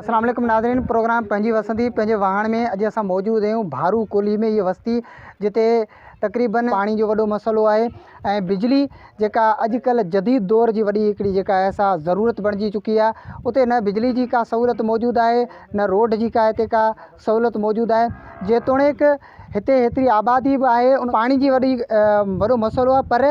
السلام عليڪم ناظرين پروگرام پنهنجي وسندي پنهنجي واهڻ ۾ اڄ اسان موجود آهيون ڀارو ڪولهي ۾ هي وستي جتي تقريبن پاڻي جو وڏو مسئلو آهي ۽ بجلي جيڪا اڄڪلهه جديد دور جي وڏي هڪڙي جيڪا آهي سا ضرورت بڻجي چڪي آهي اتي نه بجلي جي ڪا سهولت موجود آهي نه روڊ جي ڪا هتي ڪا سهولت موجود آهي جيتوڻيڪ هتي هيتري آبادي به آهي ان پاڻي جي وڏي وڏو مسئلو آهي پر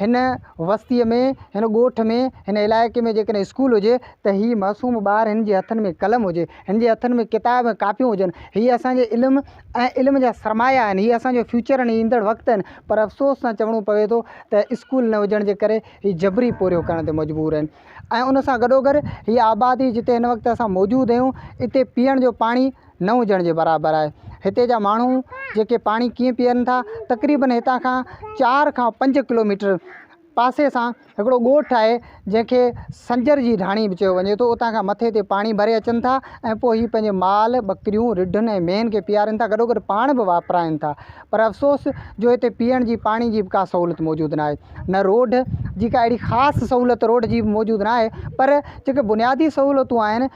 هن وستيء ۾، هن ڳوٺ ۾، هن علائقي ۾ جيڪڏهن اسڪول هجي ته هي معصوم ٻار هن جي هٿن ۾ قلم هجي، هن جي هٿن ۾ ڪتاب ۽ ڪاپيون هجن. هي اسان جي علم ۽ علم جا سرمايا آهن، هي اسان جو فيوچر ۽ ايندڙ وقت آهن، پر افسوس سان چوڻو پوي ٿو ته اسڪول نه هجڻ جي ڪري هي جبري پورهيو ڪرڻ تي مجبور آهن ۽ ان سان گڏوگڏ هيء آبادي جتي هن وقت اسان موجود آهيون، اتي پيئڻ جو پاڻي، نه هجڻ جي برابر آهي. هتي جا ماڻهو جيڪي پاڻي ڪيئن پيئن ٿا، تقريبن هتان کان چار کان پنج ڪلوميٽر پاسي سان هڪڙو ڳوٺ آهي جنهن کي سنجر جي ڍاڻي به چيو وڃي ٿو، اتان کان مٿي تي پاڻي ڀري اچن ٿا ۽ پوء هي پنهنجي مال، ٻڪريون، رڍن ۽ مينهن کي پيئارين ٿا گڏوگڏ پاڻ به واپرائين ٿا پر افسوس جو هتي پيئڻ جي پاڻي جي به ڪا سهولت موجود ناهي نه روڊ جي ڪا اهڙي خاص سهولت روڊ جي به موجود ناهي پر جيڪي بنيادي سهولتون آهن.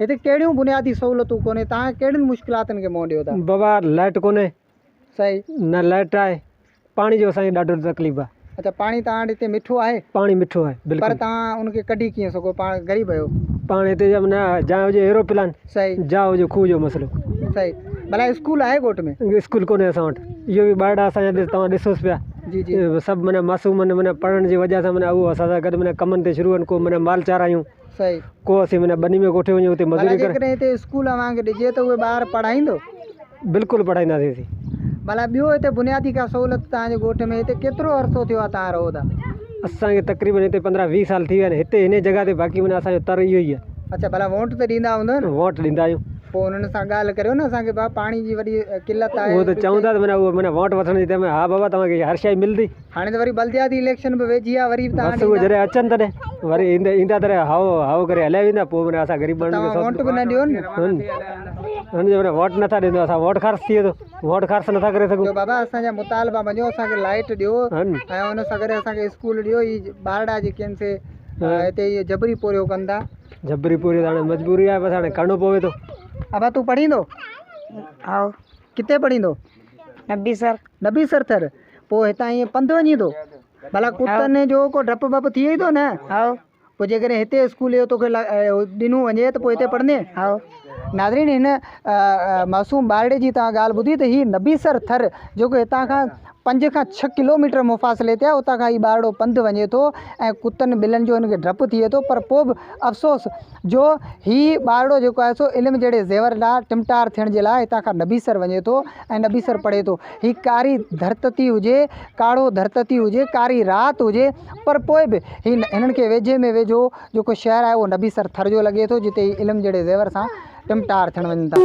هتي ڪهڙيون بنيادي سهولتون ڪونهي توهان ڪهڙين مشڪلاتن کي منهن ڏيو ٿا. بابا لائٽ ڪونهي صحيح نه لائٽ آهي پاڻي جو اسان کي ڏاڍو تڪليف آهي. اچا پاڻي توهان وٽ هتي مٺو آهي. پاڻي مٺو آهي بلڪل. پر توهان ان کي ڪڍي ڪيئن سگهو پاڻ غريب آهيو. پاڻ هتي جا نه جا هجي ايروپلان صحيح جا هجي کوهه جو مسئلو. صحيح ڀلا اسڪول آهي ڳوٺ ۾. اسڪول ڪونهي اسان وٽ اهو به ٻارڙا اسان جا توهان ڏسوس پيا جي جي. سڀ معنيٰ معصوم آهن معنيٰ پڙهڻ جي وجهه سان معنيٰ اهو اسان سان گڏ معنيٰ ڪمن تي شروع آهن ڪو معنيٰ مال چارايون. ڪو اسين معنيٰ ٻني ۾ ڪوٺي وڃون اتي مزوري ڪري جيڪڏهن هتي اسڪول اوهان کي ڏجي ته اهي ٻار پڙهائيندو بلڪل پڙهائينداسين سي ڀلا ٻيو هتي بنيادي ڪا سهولت تهان جي ڳوٺ ۾ هتي ڪيترو عرصو ٿيو آهي تهان رهو ٿا اسان کي تقريبن هتي پندرهن ويهه سال ٿي ويا آهن هتي هن جڳهه تي باقي معنيٰ اسانجو تر اهو ئي آهي اڇا ڀلا ووٽ ته ڏيندا هوندا نه ووٽ ڏيندا آهيون پوء انهن سان ڳالهه ڪريو نه اسان کي بابا پاڻي جي وڏي قلت آهي اهو ته چون ٿا ته معنيٰ اهو معنيٰ ووٽ وٺڻ جي ٽيم ۾ ها بابا توهان کي هر شيء ملندي هاڻي ته وري بلدياتي اليڪشن به ويجهي آ وري به بس اهي جڏهن اچن تڏهن وري ايندا ايندا تڏهن هائو هائو ڪري هليا ويندا پوء وري اسان غريب ماڻهن کي توهان ووٽ به نه ڏيو نه هن هن جي وري ووٽ نٿا ڏيندو اسان ووٽ خرچ ٿئي ٿو ووٽ خرچ نٿا ڪري سگهون جو بابا اسان جا مطالبا مڃو اسان کي لائٽ ڏيو هن ۽ ان سان گڏ اسان کي اسڪول ڏيو هي ٻارڙا جيڪي آهن سي هتي اهي جبري پورهيو ڪن ٿا جبري پورهيو ته هاڻي مجبوري آهي بس هاڻي ڪرڻو پوي ٿو ابا تون پڙهيندو هائو ڪٿي پڙهيندو نبي سر نبي سر ٿر پو هتان ائين پنڌ وڃي ٿو ڀلا ڪتن جو ڪو ڊپ بپ ٿئي ٿو نه هاء پو جي ڪري هتي اسڪول جو توکي ڏنو وڃي ته پو هتي پڙهندي هاء ناظرين هن معصوم ٻارڙي جي تان ڳالهه ٻڌي ته هي نبي سر ٿر جو ڪو هتان کان پنج کان ڇهه ڪلوميٽر مفاصلي تي اتان کان هي ٻارڙو پنڌ وڃي ٿو ۽ ڪتن ٻلن جو هن کي ڊپ ٿئي ٿو پر پو به افسوس جو هي ٻارڙو جيڪو آهي سو علم جهڙي زيور ڏانهن ٽمٽار ٿيڻ جي لاء هتان کان نبيسر وڃي ٿو ۽ نبيسر پڙهي ٿو هي ڪاري ڌرتتي هجي ڪاڙهو ڌرتتي هجي ڪاري رات هجي پر پوء به هي هنن کي ويجهي ۾ ويجهو جيڪو شهر آهي اهو نبيسر ٿر جو لڳي ٿو جتي هي علم جهڙي زيور سان ٽمٽار ٿيڻ وڃن ٿا.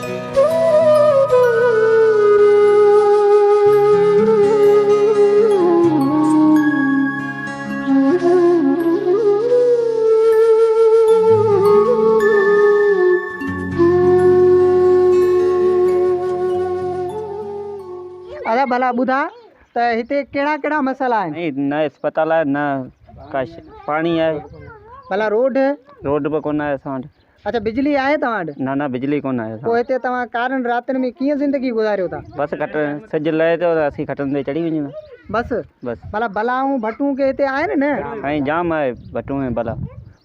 ادا ڀلا ٻڌاء ته هتي ڪهڙا ڪهڙا مسئلا آهن سائين نه اسپتال آهي نه ڪا شي پاڻي آهي ڀلا روڊ روڊ به ڪونه آهي اسان وٽ اچا بجلي آهي توهان وٽ. نه نه بجلي ڪونه آهي اسان وٽ. پوء هتي توهان ڪارن راتن ۾ ڪيئن زندگي گذاريو ٿا. بس کٽ سج لهي ٿو ته اسين کٽن تي چڙهي وڃون ٿا. بس. بس. ڀلا بلا ۽ ڀٽون ڪي هتي آهن نه. سائين جام آهي ڀٽون ۽ بلا.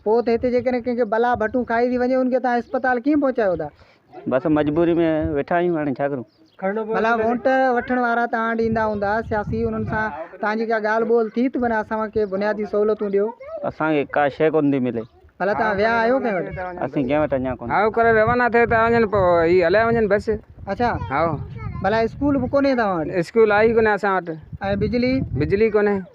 پوء ته هتي جيڪڏهن ڪنهن کي بلا ڀٽون کائي ٿي وڃي ان کي توهان اسپتال ڪيئن پهچايو ٿا. بس مجبوري ۾ ويٺا آهيون هاڻي ڇا ڪرون. ڀلا وونٽ وٺڻ وارا توهان وٽ ايندا هوندا سياسي انهن سان توهان جي ڪا ڳالهه ٻولهه ٿي ته بنهه اسان کي بنيادي سهولتون ڏيو. اسان کي ڪا شيء ڪونه ٿي ملي. ڀلا توهان ويا آهيو ڪنهن وٽ؟ اسين ڪنهن وٽ اڃان ڪونه. هائو ڪري روانا ٿي ته وڃن پوء هي هليا وڃن بس. اڇا هائو. ڀلا اسڪول به ڪونهي توهان وٽ؟ اسڪول آهي ئي ڪونه اسان وٽ. ۽ بجلي؟ بجلي ڪونهي.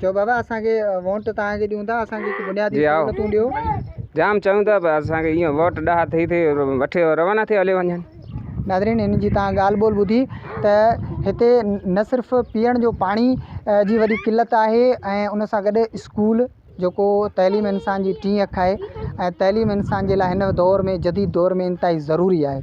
چئو بابا اسان کي ووٽ توهان کي ڏيون ٿا اسان کي بنيادي جي آئو. سهولتون ڏيو جام چون ٿا پر اسان کي ايئن ووٽ ڏاها ٿئي ٿئي وٺي روانا ٿئي هلي وڃن ناظرين ان جي تان ڳالهه ٻولهه ٻڌي ته هتي نه صرف پيئڻ جو پاڻي اه، جي وڏي قلت آهي ۽ ان سان گڏ اسڪول جيڪو تعليم انسان جي ٽين اک آهي ۽ تعليم انسان جي لاء هن دور ۾ جديد دور ۾ انتهائي ضروري آهي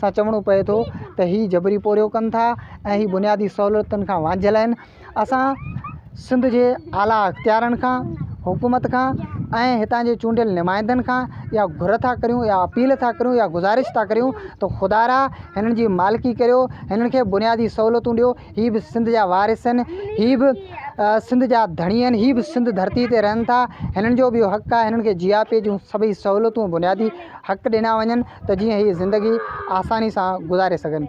سان چوڻو پئي ٿو ته هي جبري پورهيو ڪن ٿا ۽ هي بنيادي سهولتن کان وانجهيل آهن اسان سنڌ جي اعليٰ اختيارن کان حڪومت کان ۽ هتان جي چونڊيل نمائندن کان يا گهر ٿا ڪريون يا اپيل ٿا ڪريون يا گذارش ٿا ڪريون ته خدا را هنن جي مالڪي ڪريو هنن کي بنيادي سهولتون ڏيو هي به سنڌ جا وارث آهن هي به سنڌ جا ڌڻي آهن هي به سنڌ ڌرتي تي رهن ٿا هنن جو به اهو حق آهي هنن کي جياپي جون سڀئي سهولتون بنيادي حق ڏنا وڃن ته جيئن هي زندگي آساني سان گذاري سگهن.